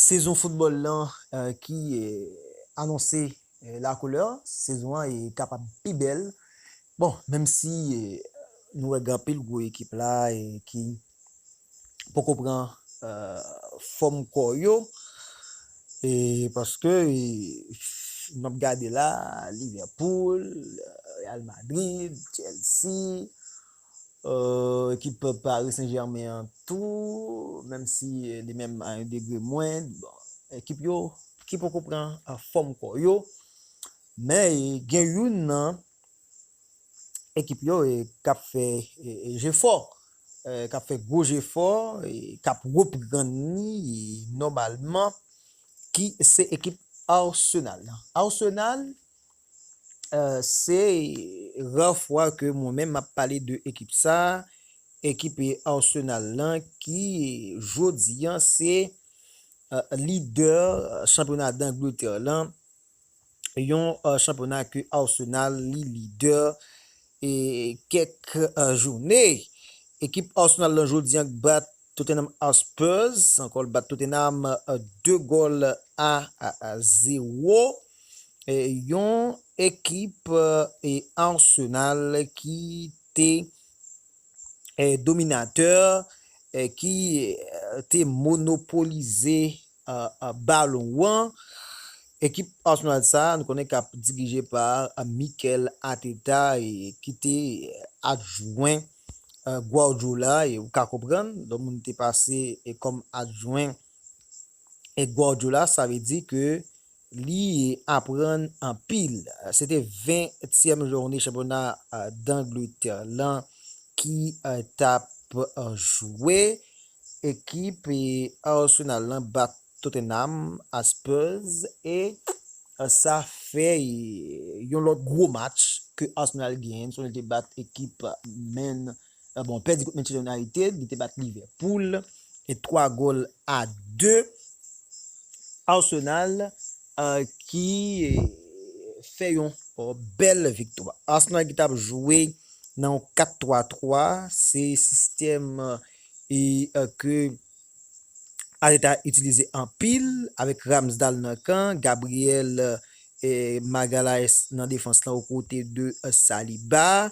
Sezon foutbòl lan ki anonse la koulè, sezon an kapab pi bèl, bon menm si nou wè gen anpil gwo ekip la ki poko pran fòm kò yo, paske m ap gade la Liverpool, Real Madrid, Chelsea, Ekip Paris Saint Germain an tou, menm si li menm a yon degre mwen, bon, ekip yo ki poko pran fòm kò yo, men gen youn nan ekip yo k ap fè jefò, k ap fè gwo jefò, k ap reprann li nòmalman ki se ekip Arsenal. Arsenal Se rar fwa ke mwen menm map pale de ekip sa, ekip Arsenal lan ki jodi an se lidè chanpyona Dangletè lan, yon chanpyona ke Arsenal li lidè E kèk joune, ekip Arsenal lan jodi an bat Tottenham Hotspurs, ankò l bat Tottenham 2 gòl a 0. Yon ekip Arsenal ki te dominatè, ki te monopolize balon wan. Ekip Arsenal sa nou konnen kap dirije pa Mikel Arteta ki te adjwen Guardiola e ou ka konprann lè moun te pase kòm adjwen Guardiola sa vle di ke Li aprann anpil. Se te 20 tièm joune chanpyona Dangletè lan ki tap jwe. Ekip Arsenal lan bat Tottenham a Spurs e sa fè yon lòt gwo match ke Arsenal genyen. Sonje li te bat ekip Man City. Gabon pèdi kont Manchester United, li te bat Liverpool 3 gòl a 2. Arsenal ki fè yon bèl viktwa. Arsenal ki tap jwe nan yon 4-3-3, se sistèm ke Arteta itilize anpil avèk Ramsdale nan kan, Gabriel Magalhaes nan defans la o kote de Saliba.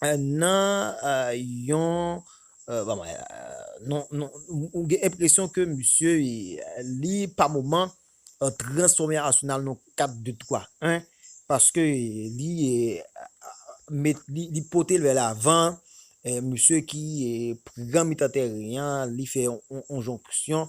nan yon ou gen enpresyon ke misye li pa moman transfòme Arsenal nan yon 4 2 3 1 paske li li pote l vè lavan misye ki pran mitan tèren an li fè yon jonksyon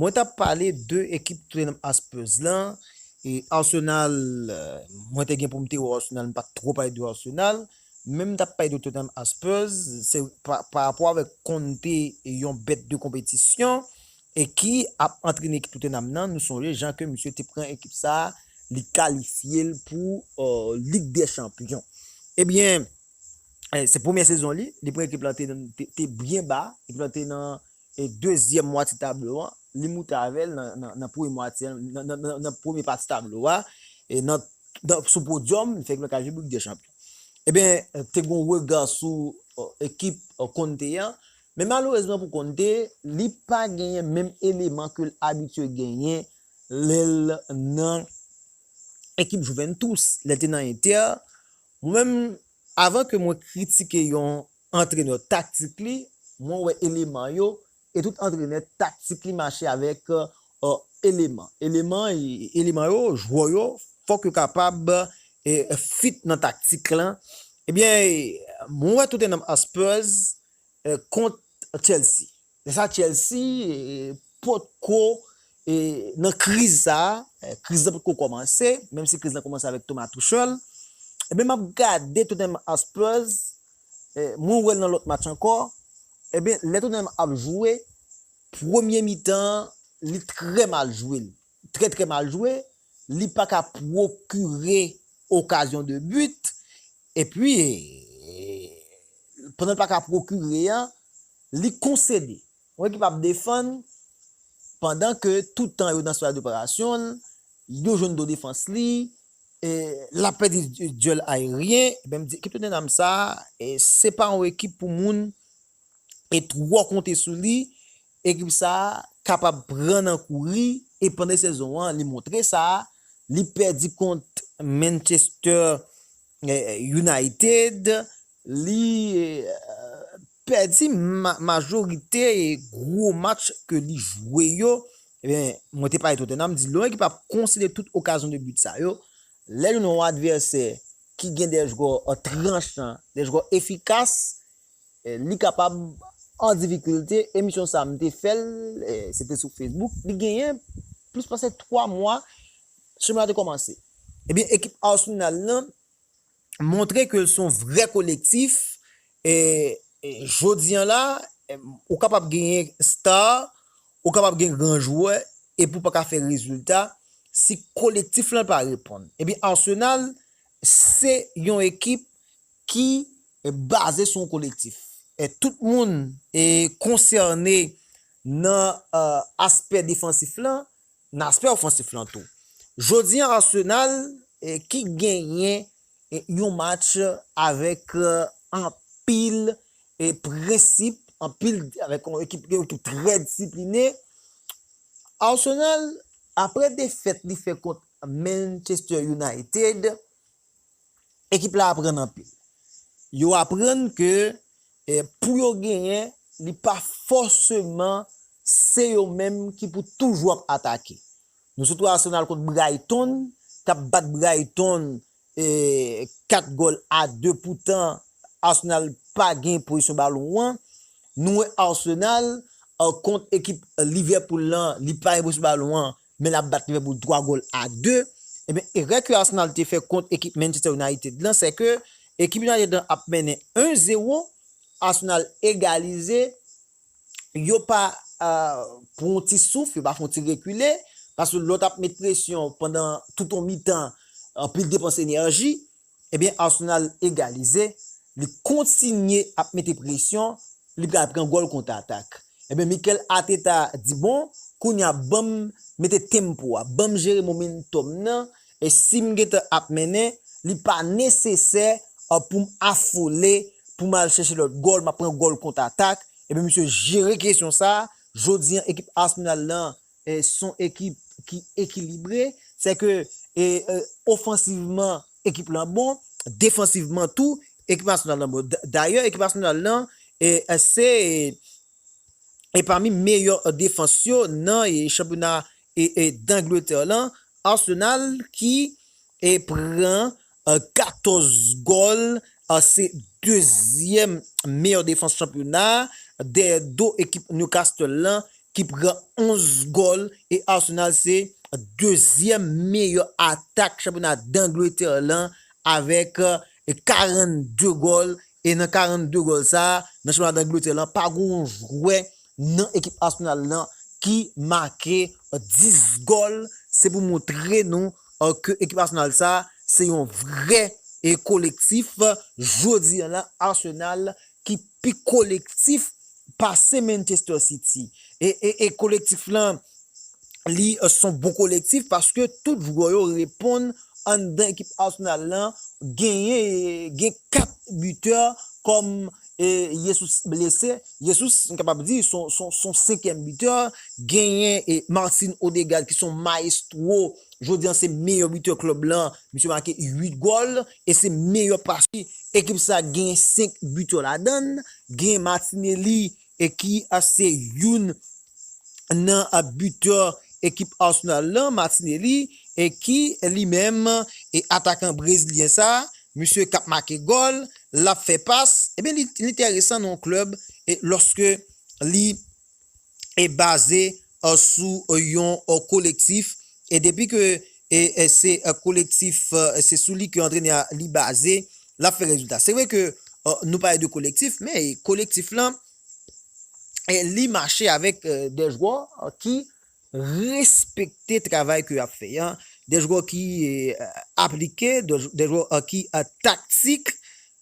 Mwen tap pale de ekip Tottenham Hotspurs lan e Arsenal mwen te gen pou m te wè Arsenal m pat twò pale de Arsenal men m tap pale de Tottenham Hotspurs se pa rapò avèk Conte yon bèt de konpetisyon e ki ap antrene ekip Tottenham nan nou sonje jan ke misye te pran ekip sa li kalifye l pou Lig dè Chanpyon ebyen se premyè sezon li li pran ekip la te byen ba ekip la te nan E dezyèm mwatye tablo an, li moute avè l nan premye mwatye an, nan premye pati tablo a, e nan, sou podyòm, li fè yon kajou pou Lig dè Chanpyon. Eben, te gen yon rega sou ekip Conte an, men malerezman pou Conte, li pa genyen menm eleman ke l abitye genyen lè l nan ekip Juventus, lè l te nan Inter. Mwen menm, Avan ke mwen kritike yon antrenè taktik li, mwen wè eleman yo, e tout antrenè taktik li mache avèk eleman. Eleman eleman yo, jwè yo, fòk yo kapab fit nan taktik lan. Ebyen, mwen wè Tottenham Hotspurs kont Chelsea. Se sa Chelsea pot ko nan kriz sa, kriz la pot ko komanse, menm si kriz la komanse avèk Thomas Tuchel. Ebyen map gade Tottenham a Spurs, mwen wèl nan lòt match ankò, ebyen lè Tottenham ap jwe, premye mitan li trè mal jwel, trè trè mal jwe, li pa ka pwokire okazyon de but, epi pandan l pa ka pwokire an, li konsede. Yon ekip ap defann pandan ke tout tan yo nan sifas doperasyon l, yo jwenn do defans li, l ap pèdi dyèl ayeryen, men m di ekip Tottenham sa, se pa yon ekip pou moun e twò konte sou li, ekip sa a kapab pran nan kouri e pandan sezon an li montre sa, li pèdi kont Manchester United, li pèdi majorite gwo match ke li jwe yo, ebyen mwen te pale Tottenham, di lè yon ekip ap konsede tout okazyon de but sa yo, lè li nan yon advèsè ki gen de jwè tranchan, de jwè efikas, Li kapab an difikilte, emisyon sa m te fè l, se te sou Facebook, li genyen plis pase 3 mwa chemen an te kòmanse. Ebyen ekip Arsenal lan montre ke l s on vrè kolektif, jodi an la ou kapab genyen star, ou kapab gen gran jwè epi w pa ka fè rezilta si kolektif lan pa reponn. Ebyen Arsenal se yon ekip ki baze sou yon kolektif. Tout moun konsène nan aspè defansif lan, nan aspè ofansif lan tou. Jodi an Arsenal ki genyen yon match avèk anpil prensip, anpil avèk yon ekip trè disipline. Arsenal apre defèt li fè kont Manchester United. Ekip la aprann anpil. Yo aprann ke pou yo genyen, li pa fòseman se yo menm ki pou toujou ap atake. Nou sot wè Arsenal kont Brighton, k ap bat Brighton 4 gòl a 2, poutan Arsenal pa gen pozisyon balon an. Nou wè Arsenal kont ekip Liverpool lan, li pa gen pozisyon balon an, men lap bat Liverpool 3 gòl a 2, ebyen erè ke Arsenal te fè kont ekip Manchester United lan se ke ekip United lan ap mennen 1 zero, Arsenal egalize, yo pa pran yon ti souf, yo pa fè yon ti rekile, paske lò tap met presyon pandan tout yon mitan, anpil depans enèji, Ebyen Arsenal egalize, li kontinye ap mete presyon, li pral pran gòl konta atak. Ebyen Mikel Arteta di bon, kounya banm mete tempo a, banm jere momentum nan, e sim gentan ap mennen, li pa nesesè poum afole, poum al chèche lòt gòl, map pran gòl konta atak, ebyen misye jere kesyon sa, jodi an ekip Arsenal lan Son ekip ki ekilibre, se ke ofansivman ekip lan bon, defansivman tou ekip nasyonal lan bon. Dayè ekip nasyonal lan se pami meyè defans yo nan chanpyona Dangletè lan, Arsenal ki pran 14 gòl, se dezyèm meyè defans chanpyona a, dèyè do ekip Newcastle lan ki pran 11 gòl e Arsenal se dezyèm meyè atak chanpyona Dangletè lan avèk 42 gòl e nan 42 gòl sa a nan chanpyona Dangletè lan pa gen yon jwè nan ekip Arsenal lan ki make 10 gòl, se pou montre nou. Or ke ekip Arsenal sa a se yon vrè kolektif, jodi an la Arsenal ki pi kolektif pase Manchester City. E kolektif lan li son bon kolektif paske tout jwè yo reponn anndan ekip Arsenal lan genyen gen 4 butè kòm E Yesus blese, Yesus m kapab di son senkyèm bitè, genyen Martin Odegaard ki son maestro, jodi an se meyè bitè klub lan, misye make 8 gòl e se meyè pasè, ekip sa genyen 5 bitè ladann, genyen Martinelli ki se youn nan bitè ekip Arsenal lan, Martinelli ki li menm atakan brezilyen sa Misye kap make gòl, lap fè pas, ebyen li enteresan nan yon klèb lòske li baze sou yon kolektif e depi ke se kolektif, se sou li ke antrenè a li baze, lap fè rezilta. Se vre ke nou pale de kolektif, men kolektif lan li mache avèk de jwè ki respekte travay ke yap fè an, de jwè ki aplike, de jwè ki taktik,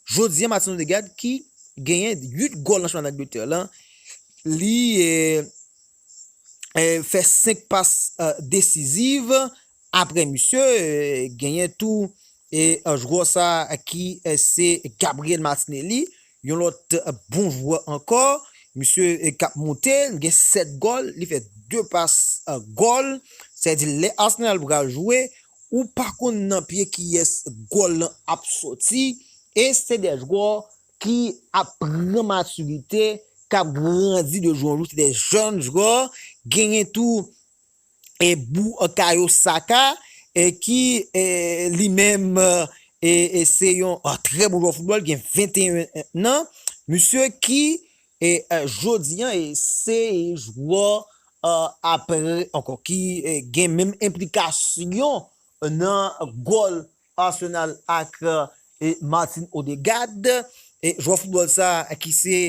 jodi an Martin Odegaard ki genyen 8 gòl nan chanpyona Angletè la, li fè 5 pas desiziv Apre misye, genyen tou jwè sa ki se Gabriel Martinelli, yon lòt bon jwè ankò. Misye k ap moute, li gen 7 gòl, li fè 2 pas gòl. Sa vle di lè Arsenal pral jwe, ou pa konn nan pye kiyès gòl lan ap soti. E se 2 jwè ki ap pran matirite, k ap grandi de jou an jou. Se 2 jèn jwè. Genyen tou Boukayo Saka ki li menm se yon trè bon jwè foutbòl, gen 21 an, misye ki jodi an se jwè aprè ankò ki gen menm enplikasyon nan gòl Arsenal ak Martin Odegaard, jwè foutbòl sa ki se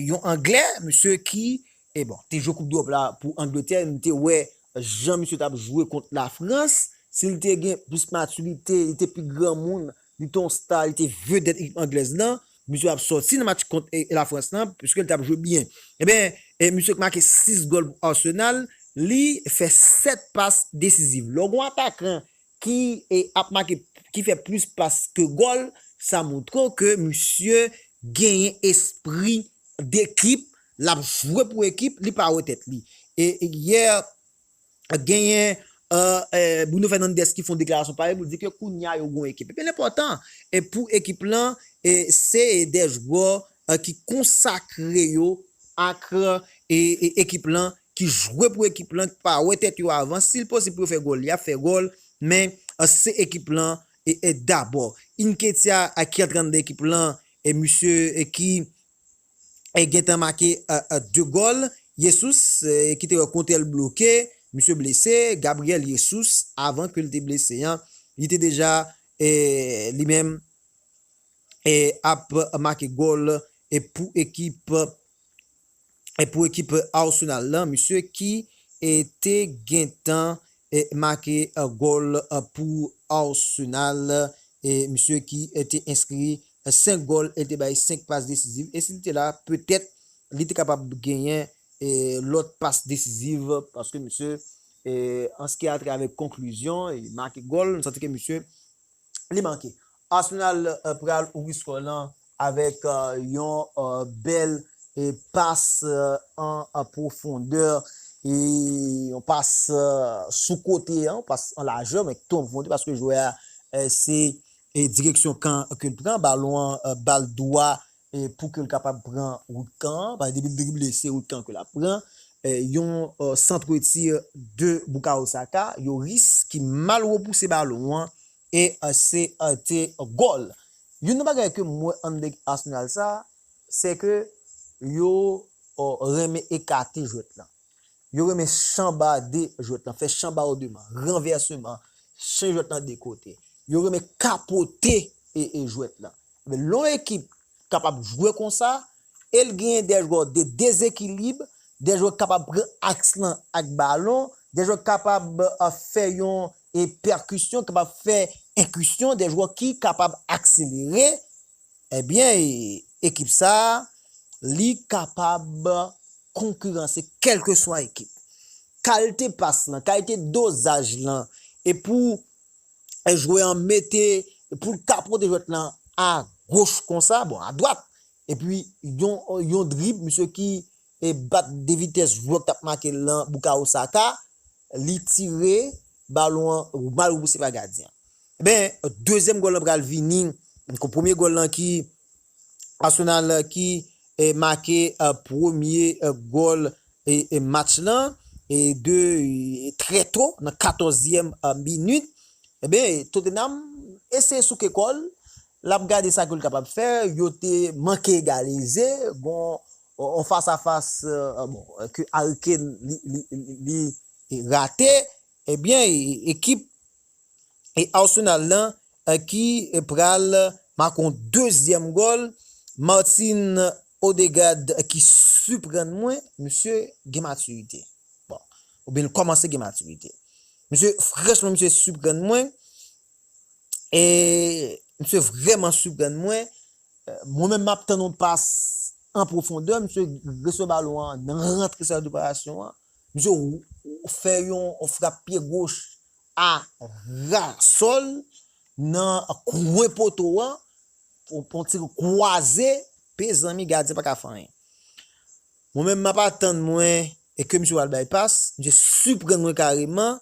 yon anglè, misye ki bon te jwe koup dwop la pou Angletè, nou te wè jan misye tap jwe kont la Frans, si li te gen plis matirite, li te pi granmoun, li te yon star, li te vedèt ekip anglèz lan, misye ap sòti nan match kont la Frans lan, piske li tap jwe byen. Eben, misye ki make 6 gòl pou Arsenal, li fè 7 pas desiziv. Lè w gen yon atakan ki ap make ki fè plis pas ke gòl, sa montre w ke misye genyen espri dekip, l ap jwe pou ekip, li pa wè tèt li. E yè genyen Bruno Fernandes ki fè yon deklarasyon parèy pou l di ke kounya yo gen yon ekip. Epi l enpòtan pou ekip lan se de jwè ki konsakre yo ak ekip lan, ki jwe pou ekip lan, ki pa wè tèt yo avan, si l posib pou yo fè gòl, y ap fè gòl, men se ekip lan dabò. Nketiah a ki antrènè ekip lan, misye ki gen tan make 2 gòl, Jesus ki te wè kontè l bloke, misye blese, Gabriel Jesus avan ke l te blese an, li te deja li menm ap make gòl pou ekip pou ekip Arsenal lan, misye ki te gentan make gòl pou Arsenal, misye ki te enskri 5 gòl, el te bay 5 pas desiziv, e si li te la petèt li te kapab genyen lòt pas desiziv paske misye an ski atravè konklizyon, li make gòl, nou santi ke misye li manke. Arsenal pral ouvri skò lan avèk yon bèl pas an pwofondè, yon pas sou kote an, yon pas an lajè men tou an pwofondè paske jwè a se direksyon kan ke l pran, balon an ba l dwa pou ke l kapab pran wout kan an, paske depi l drible se wout kan ke l ap pran. Yon centre-tir de Bukayo Saka, Yoris ki mal repouse balon an E se te gòl. Youn nan bagay ke m wè an nèg Arsenal sa, se ke yo renmen ekate jwèt lan. Yo renmen chanbade jwèt lan, fè chanbardeman, ranvèseman, chanje jwèt lan de kote. Yo renmen kapote jwèt lan. Lè yon ekip kapab jwe konsa, e l genyen de jwè de dezekilib, de jwè kapab pran aks lan ak balon, de jwè kapab fè yon e pèkisyon k ap fè enkisyon de jwè ki kapab akselere ebyen ekip sa li kapab konkiranse kèlkeswa ekip. Kalte pas lan, kalite dozaj lan e pou jwè an mete pou l kapote jwèt lan a goch konsa bon a dwat epi yon drib misye ki bat de vitès jwè k t ap make l lan Bukayo Saka Li tire balon an mal repousse pa gadyen an. Ebyen dezyèm gòl lan pral vini kon premye gòl lan ki Arsenal ki make premye gòl match lan de trè to nan 14 zièm minit. Ebyen Tottenham eseye souke kòl lap gade sa ke l kapab fè yo te manke egalize gon On fas a fas bon ke Harry Kane li rate ebyen ekip Arsenal lan ki pral make yon dezyèm gòl Martin Odegaard ki siprann mwen misye gen matirite bon oubyen li kòmanse gen matirite misye franchman misye siprann mwen misye vrèman siprann mwen Mwen menm map tann yon pas an pwofondè misye resevwa balon an nan rantre sifas deparasyon an, misye fè yon frap pye goch a ra sòl nan kwen poto an pou yon tir kwaze mezanmi gadyen paka fè anyen. Mwen menm map atann mwen ke misye pral bay pas, misye siprann mwen kareman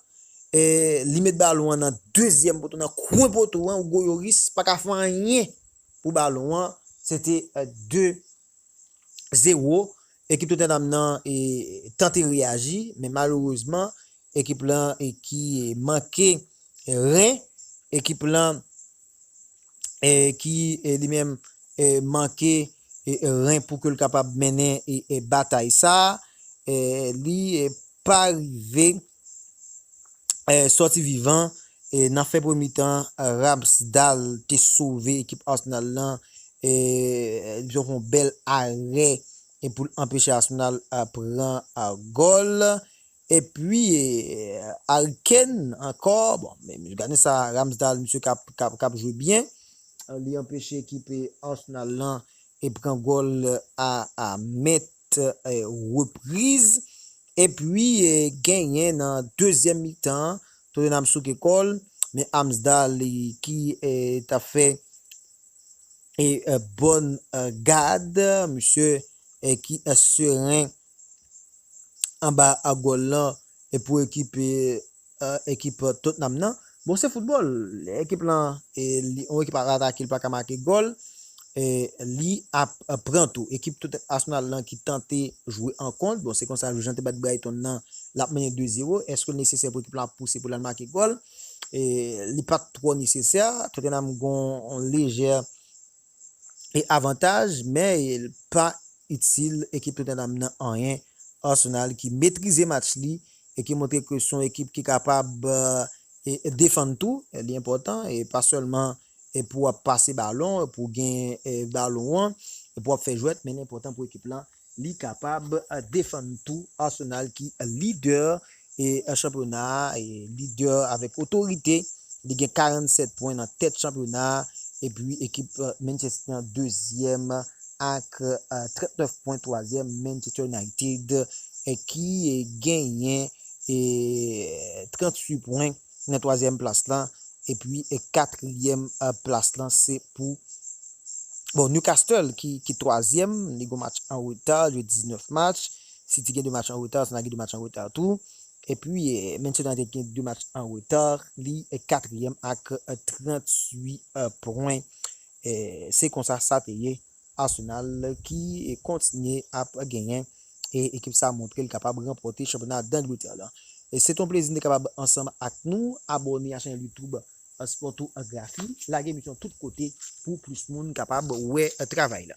e li met balon an nan dezyèm poto nan kwen poto an Hugo Yoris paka fè anyen pou balon an se te 2 0 ekip Tottenham nan tante reyaji men malerezman ekip lan ki manke ren ekip lan ki li menm manke ren pou ke l kapab mennen batay sa li pa rive. Sòti vivan nan fen premye mitan, Ramsdale te sove ekip Arsenal lan epi fè yon bèl arè pou l anpeche Arsenal pran gòl. Epi Harry Kane ankò, bon men gade sa Ramsdale misye kap jwe byen, li anpeche ekip Arsenal lan pran gòl a mèt fèt repriz epi genyen nan dezyèm mitan an Tottenham souke kò l men Amsdale ki t ap fè bòn gad misye ki seren anba gòl lan pou ekip ekip Tottenham nan. Bon se football ekip lan yon ekip ap atake li paka make gòl li ap pran tou ekip Tottenham Arsenal lan ki tante jwe an kont bon se konsa jan te bat Brighton nan lap mennen 2 zero eske li nesesè pou ekip lan ap pouse pou lal make gòl li pat twò nesesè Tottenham gon lejè E avantaj men el pa itil ekip Tottenham nan anyen, Arsenal ki metrize match li e ki montre ke son ekip ki kapab defann tou, li enpòtan e pa sèlman pou wap pase balon, pou gen balon an, pou wap fè jwèt men li enpòtan pou ekip lan Li kapab defann tou Arsenal ki lidè chanpyona a, lidè avèk otorite, li gen 47 pwen nan tèt chanpyona a, epi ekip Manchester City an dezyèm ak 39 pwen, twazyèm Manchester United ki genyen 38 pwen. Nan twazyèm plas la epi katriyèm plas la se pou bon Newcastle ki twazyèm li gon match an reta li jwe 19 match City gen 2 match an reta Arsenal gen 2 match an reta tou epi Manchester United gen 2 match an reta li katriyèm ak 38 pwen se konsa sa te ye Arsenal ki kontinye ap genyen e ekip sa montre li kapab ranpòte chanpyona Dangletè lan. Se ton plezi nou te kapab ansanm ak nou, abòne a chanèl youtube Sportographie, lage emisyon tout kote pou plis moun kapab wè travay lan.